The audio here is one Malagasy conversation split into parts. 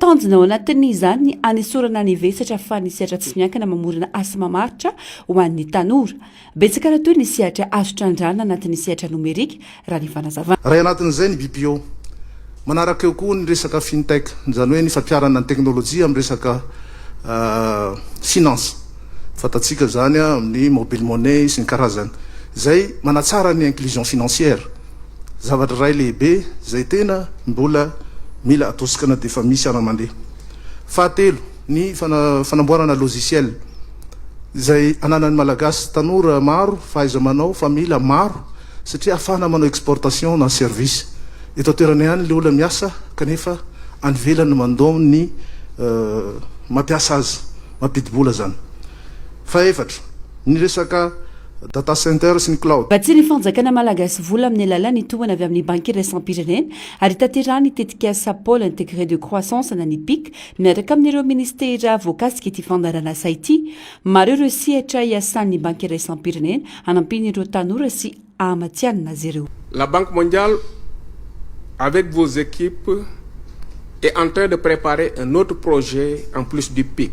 Tanjona ao anatin'izany ny hanesorana ny vesatra fa ny sehatra tsy miankina mamorona asa mamaritra ho an'ny tanora. Betsaka raha toa ny sehatra azo trandrahana anatin'ny sehatra nomerika, raha ny fanazavana. Iray anatin'izay ny BPO. Manaraka eo koa ny resaka fintech, izany hoe ny fampiharana ny teknolojia amin'ny resaka finance, fantatsika izany amin'ny mobile money sy ny karazany, izay manatsara ny inclusion financière. zavatra iray lehibe izay tena mbola mila atosokana dia efa misy ara mandeha. Fahatelo, ny fanamboarana logiciel izay ananan'ny Malagasy tanora maro fahaiza-manao fa mila maro satria afahana manao exportation na service. Eto an-toerana ihany ilay olona miasa kanefa any ivelany no mandom ny mampiasa azy, mampidi-bola izany. Fahefatra, ny resaka. Data Center sy ny Cloud. Vatsian'ny fanjakana malagasy vola amin'ny alalan'ny tohana avy amin'ny Banky Iraisam-pirenena ary hitanterahany tetikasa Pole Integre de Croissance na ny pic miaraka amin'ireo minisitera voakasika ity fandaharan'asa ity. Maro ireo sehatra hiasan'ny Banky Iraisam-pirenena hanampian'ireo tanora sy hahamatihanina azy ireo. La Banque Mondiale avec vos équipes est en train de préparer un autre projet en plus du pic.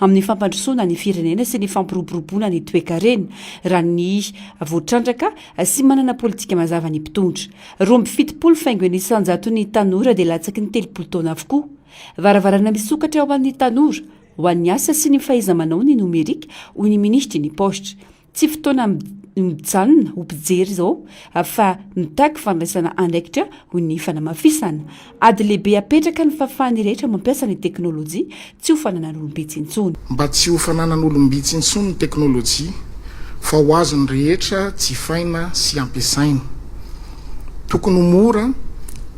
amin'ny fampandrosoana ny firenena sy ny fampiroboroboana ny toekarena, raha ny voatrandraka sy manana politika mazava ny mpitondra. Roa amby fitopolo faingo ny isan-jaton'ny tanora dia latsaky ny telopolo taona avokoa. Varavarana misokatra ho an'ny tanora, ho an'ny asa sy ny fahaiza-manao ny nomerika, hoy ny minisitry ny Paositra. Tsy fotoana mijanona ho mpijery izao fa mitaky fandraisana andraikitra, hoy ny fanamafisana. Ady lehibe apetraka ny fahafahan'ny rehetra mampiasa ny teknolojia, tsy ho fananan'olom-bitsy intsony. Mba tsy ho fananan'olom-bitsy intsony ny teknolojia fa ho azon'ny rehetra jifaina sy ampiasaina. Tokony ho mora,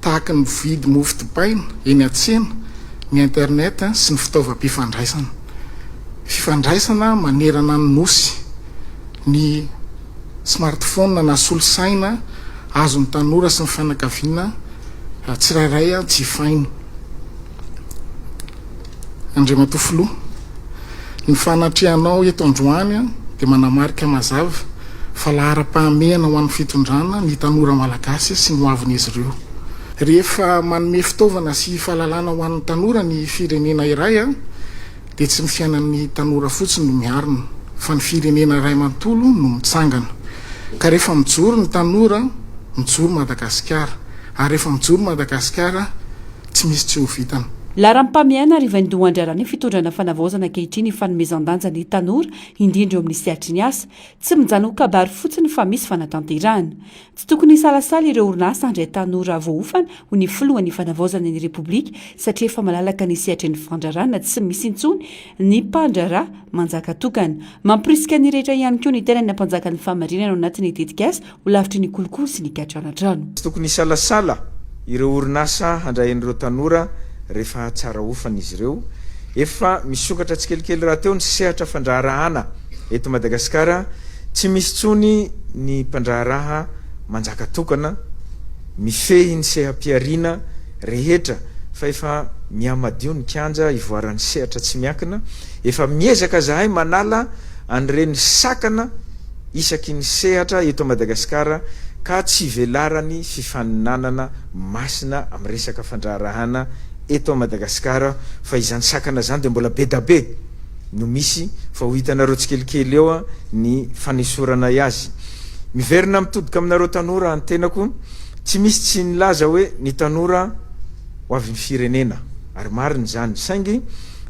tahaka ny mividy mofo dipaina eny an-tsena, ny internet sy ny fitaovam-pifandraisana. fifandraisana manerana ny Nosy, ny smartphone na solosaina azon'ny tanora sy ny fianakaviana tsirairay jifaina. Andriamatoa Filoha, ny fanatrehanao eto androany dia manamarika mazava fa laharam-pahamehana ho an'ny fitondrana ny tanora malagasy sy ny hoavin'izy ireo. Rehefa manome fitaovana sy fahalalana ho an'ny tanora ny firenena iray dia tsy ny fiainan'ny tanora fotsiny no miarina fa ny firenena iray manontolo no mitsangana. Ka rehefa mijoro ny tanora, mijoro Madagasikara. Ary rehefa mijoro Madagasikara, tsy misy tsy ho vitany. Laharam-pamehana ary vaindoha andraran'ny fitondrana Fanavaozana ankehitriny ny fanomezan-danja ny tanora, indrindra eo amin'ny sehatry ny asa. Tsy mijanona ho kabary fotsiny fa misy fanatanterahana. Tsy tokony hisalasala ireo orinasa handray tanora voaofana ho ny filohan'ny Fanavaozana ny Repoblika satria efa malalaka ny sehatry ny fandraràna tsy misy intsony ny mpandraharaha manjaka tokana. Mampirisika ny rehetra ihany koa ny tenany hampanjaka ny fahamarinana ao anatin'ny tetikasa ho lavitry ny kolikoly sy ny katranantrano. Tsy tokony hisalasala Ireo orinasa handray an'ireo tanora rehefa tsara hofana izy ireo. Efa misokatra tsikelikely rahateo ny sehatra fandraharahana eto Madagasikara. Tsy misy intsony ny mpandraharaha manjaka tokana mifehy ny seha-pihariana rehetra fa efa mihamadio ny kianja hivoaran'ny sehatra tsy miankina. Efa miezaka zahay manala an'ireny sakana isaky ny sehatra eto Madagasikara ka tsy velaran'ny fifaninanana masina amin'ny resaka fandraharahana eto Madagasikara fa izany sakana izany dia mbola bedabe no misy fa ho hitanareo tsikelikely eo ny fanesoranay azy. Miverina mitodika aminareo tanora ny tenako, tsy misy tsy nilaza hoe ny tanora ho avin'ny firenena ary marina izany saingy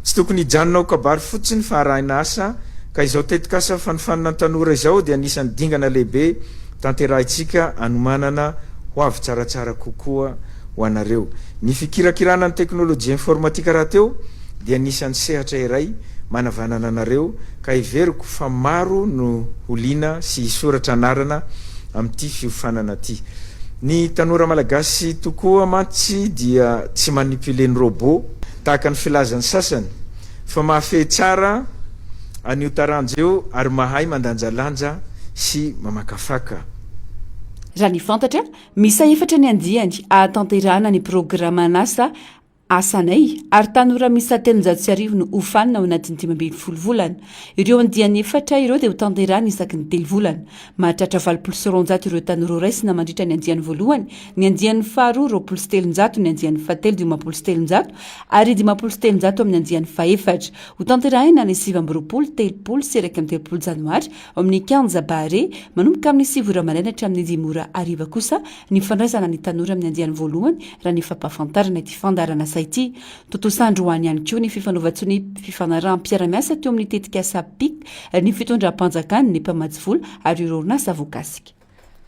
Tsy tokony hijanona ho kabary fotsiny fa arahina asa, ka izao tetikasa fanofanana ny tanora izao dia anisan'ny dingana lehibe tanterahintsika hanomanana hoavy tsaratsara kokoa ho anareo. Ny fikirakirana ny teknolojia informatika rahateo dia anisan'ny sehatra iray manavanana anareo, ka heveriko fa maro no ho liana sy hisoratra anarana amin'ity fiofanana ity. Ny tanora malagasy tokoa mantsy dia tsy manipule ny robot, Tahaka ny filazan'ny sasany fa mahafehy tsara an'io taranja io ary mahay mandanjalanja sy mamakafaka. Raha ny fantatra, miisa efatra ny andiany hahatanterahana ny programan'asa Asanay ary tanora miisa telonjato sy arivo no hofanina ao anatin'ny dimy ambin'ny folo volana. Ireo andiany efatra ireo dia hotanterahina isaky ny telo volana. Mahatratra valopolo sy roanjato ireo tanora ho raisina mandritra ny andiany voalohany, ny andiany faharoa roapolo sy telonjato, ny andiany fahatelo dimampolo sy telonjato ary dimampolo sy telonjato amin'ny andiany fahefatra. Hotanterahina ny sivy amby roapolo, telopolo sy iraika amby telopolo janoary ao amin'ny kianja Bahare, manomboka amin'ny sivy ora maraina hatramin'ny dimy ora hariva kosa ny fandraisana ny tanora amin'ny andiany voalohany, raha ny fampahafantarana ity fandaharan'asa ity. Tontosa androany ihany koa ny fifanaovan-tsonia fifanaraham-piarahamiasa teo amin'ny tetikasa PIC, ny fitondram-panjakana, ny mpamatsy vola ary ireo orinasa voakasika.